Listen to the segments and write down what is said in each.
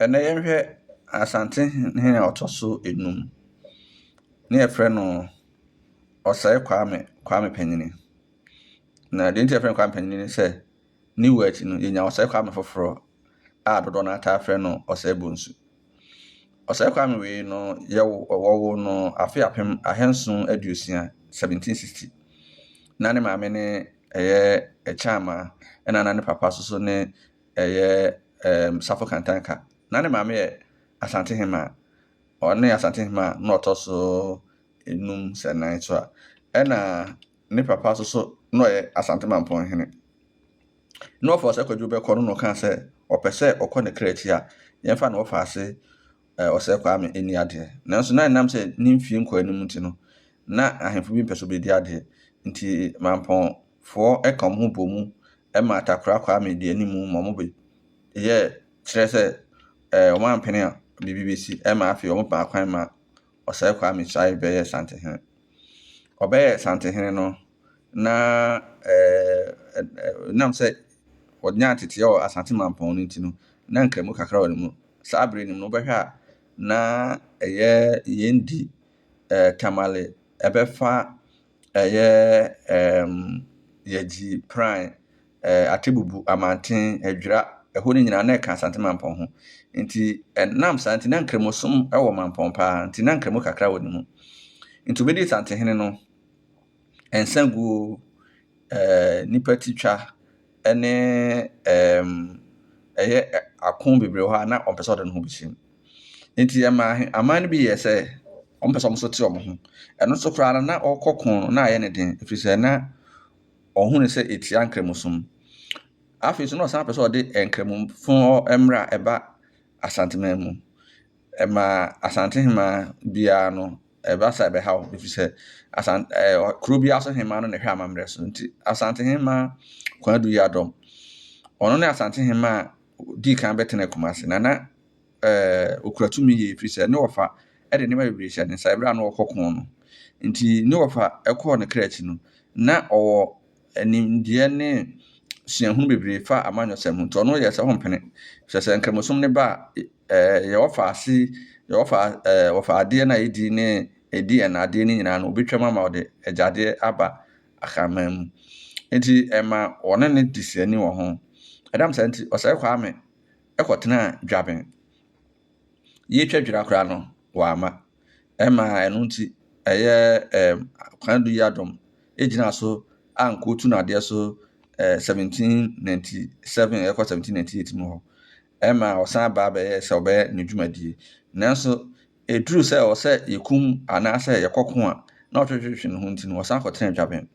Ɛnnɛ yɛnhwɛ Asante hene a ɔtɔ so nnum ne yɛfrɛ no Ɔsɛe Kwame Kwame Panyini. Na deɛ nti a yɛfrɛ no Kwame Panyini ne sɛ ne wu akyi no yɛnya Ɔsɛe Kwame foforɔ a dodoɔ no ara taa frɛ no Ɔsɛe Bonsu. Ɔsɛe Kwame wei no yɛwo wɔwoo no afe apem ahanson aduosia, 1760. Na ne maame ne ɛyɛ Ɛkyɛama ɛna na ne papa nso so ne ɛyɛ Safo Kantanka. Na ne maame yɛ Asantehemaa. Ɔne Asantehemaa na ɔtɔ so enum sɛ nnan so a. Ɛna ne papa nso so na ɔyɛ Asante Mampɔn hene. Na wɔfa Ɔsɛ Kwadwo bɛkɔ no na ɔkaa sɛ ɔpɛ sɛ ɔkɔ ne kra akyi a, yɛmfa no wɔfa ase Ɔsɛ Kwame ɛni adeɛ. Nanso na ɛnam sɛ ne mfie nkɔ anim nti no, na ahemfo bi mpɛ sɛ ɔbɛdi adeɛ. Nti Mampɔn foɔ ka wɔn ho bɔ mu ma Atakorah Kwame de anim ma wɔn bɛ yɛ kyerɛ sɛ ɛɛ wɔn ampene a biribi bɛsi ma afei wɔn paa kwan ma Ɔsɛe Kwame Sae bɛyɛ Santehene. Ɔbɛyɛ Santehene no na ɛɛ nam sɛ wɔnyaa teteɛ wɔ Asante Mampɔn no nti no na nkramu kakra wɔ ne mu. Saa berɛ no mu no wobɛhwɛ a na ɛyɛ yɛn di ɛɛ Tamale ɛbɛfa ɛyɛ ɛɛm Yɛgyi, Pran, ɛɛ Atebubu, Amanten, Adwira, ɛhɔ no nyinaa na ɛka Asante Mampɔn ho. Nti ɛnam saa nti na Nkramosom wɔ Mampɔn pa ara nti na Nkramo kakra wɔ ne mu. Nti obedii Santehene no, nsaguo, ɛɛ nnipa titwa ɛne ɛɛm ɛyɛ ako bebree wɔ hɔ a na ɔmpɛ sɛ ɔde ne ho bɛhyɛ mu. Enti ɛmaa aman no bi yɛɛ sɛ wɔpɛ sɛ wɔn nso te wɔn ho. Ɛno nso koraa no, na ɔkɔ ko no, na ayɛ no den, ɛfiri sɛ na ɔhu no sɛ ɛtia Nkramosom. Afei nso na ɔsan pɛ sɛ ɔde Nkramofo mmara a ɛba Asanteman mu. Ɛmaa Asante hemaa biara no, ɛba saa ɛbɛha wɔn, ɛfiri sɛ Asan ɛɛ kuro biara so hemaa no na ɛhwɛ amammerɛ so. Enti Asante hemaa Kwadu Yadom, ɔno ne Asante hemaa a ɔdii kan bɛtenaa Kumasi, na na eh, ɔkura tumi yie, ɛfiri sɛ ne wɔfa de nneɛma bebree hyɛ ne nsa ɛberɛ a na ɔrekɔ ko no. Nti ne wɔfa kɔɔ ne kra akyi no, na ɔwɔ nimdeɛ ne suahunu bebree fa amanyɔsɛm ho, nti ɔno yɛɛ sɛ ɔmpene. Hwɛ sɛ Nkramosom no ba a, eh, yɛ wɔfa ase, yɛ wɔfa eh, wɔfa adeɛ no a ɛdi ne ɛdi ɛna adeɛ no nyinaa no, ɔbɛtwam ama ɔde agyadeɛ aba Akanman mu. Nti ɛma wɔne no di srani wɔ ho. Ɛnam saa nti, Ɔsɛe Kwame kɔtenaa dwaben. Yetwa dwira koraa no, wamma. Ɛmaa ɛno nti ɛyɛ ɛɛm Kwame Duyi Adom gyinaa so a nkotu no adeɛ so ɛɛ 1797 ɛkɔ 1798 mu hɔ. Ɛma ɔsan baa bɛyɛ sɛ ɔbɛyɛ ne dwumadie. Nanso ɛduru sɛ ɛwɔ sɛ yɛkum anaasɛ yɛkɔko a, na ɔtwetwetwe ne ho nti no, ɔsan kɔtenaa dwaben.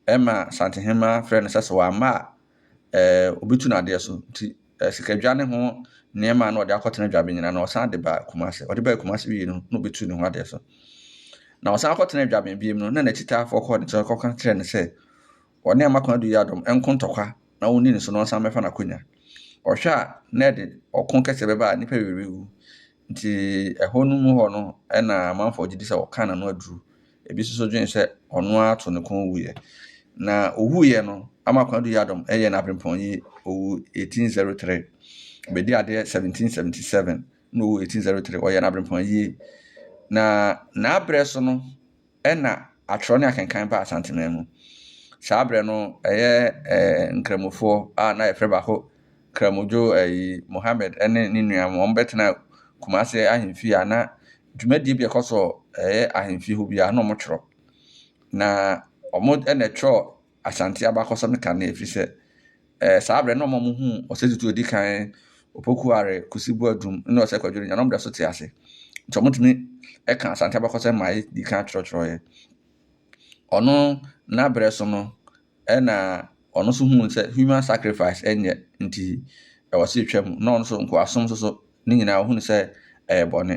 Ɛma Santehemaa frɛɛ no sɛ sɛ wamma a, obi tu no adeɛ so nti sikadwa ne ho nneɛma na ɔde akɔtena Dwabenyina na ɔsan de ba Kumase. Ɔde baa Kumase wie no na ɔbɛtu ne ho adeɛ so. Na ɔsan kɔtena Dwaben bio no na n'akyitaafoɔ kɔɔ ne nkyɛn kɔka kyerɛɛ no sɛ ɔne Amakwan Adu Yiadom nko ntɔkwa na ɔnni ne so na ɔnsan mmɛfa n'akonya. Ɔhwɛ a na ɛde ɔko kɛseɛ bɛba a nnipa bebree bɛwu nti ɛhɔ no mu hɔ no na amanfoɔ gye di sɛ ɔkaa n'ano aduru Ebi nso so dwen sɛ ɔno ara to ne kɔn wuiɛ. Na owuiɛ no, Ama Kwadu Yadom yɛ no Abrempɔn yi, ɔwu 1803. Ɔbɛdii adeɛ 1777 na ɔwu 1803. Wɔyɛɛ no Abrempɔn yi. Na n'aberɛ so no na atwerɛ ne akenkan baa Asanteman mu. Saa berɛ no, ɛyɛ Nkramofoɔ a na yɛfrɛ baako Karamodwo ayi, Mohammed ne ne nuanom, wɔbɛtenaa Kumasi ahemfie a na dwumadie bi a ɛkɔ so yɛ ahemfie hɔ biara na wɔtwerɛ. Na wɔn na ɛtwerɛ Asante abakɔsɛm no kanea ɛfiri sɛ saa berɛ no na wɔn a wɔhuu Ɔsɛ Tutu a ɔdi kan, Opoku Are, Kusi Boadum ne Ɔsɛ Kwadwo no nyinaa na wɔda so te ase. Nti wɔtumi ka Asante abakɔsɛm ma yɛdi kan twerɛtwerɛeɛ. Ɔno n'aberɛ so no, Ɛna ɔno nso huu sɛ human sacrifice ɛnyɛ nti ɛwɔ sɛ yɛtwa mu na ɔno nso nkoasom nso so ne nyinaa ɔhunu sɛ ɛyɛ bɔne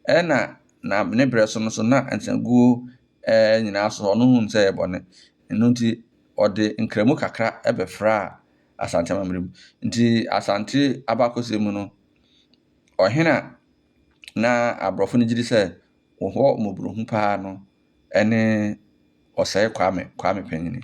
ɛna na ne berɛ so no so na nsaguo ɛɛ nyinaa so ɔno hunu sɛ ɛyɛ bɔne ɛno nti ɔde nkramu kakra ɛbɛfraa asante amammerɛ mu nti asante abakɔsɛ mu no ɔhene a na aborɔfo no gyidi sɛ wɔn hɔ mmɔborɔhunu pa ara no ne Ɔsɛe Kwame Kwame Panyin.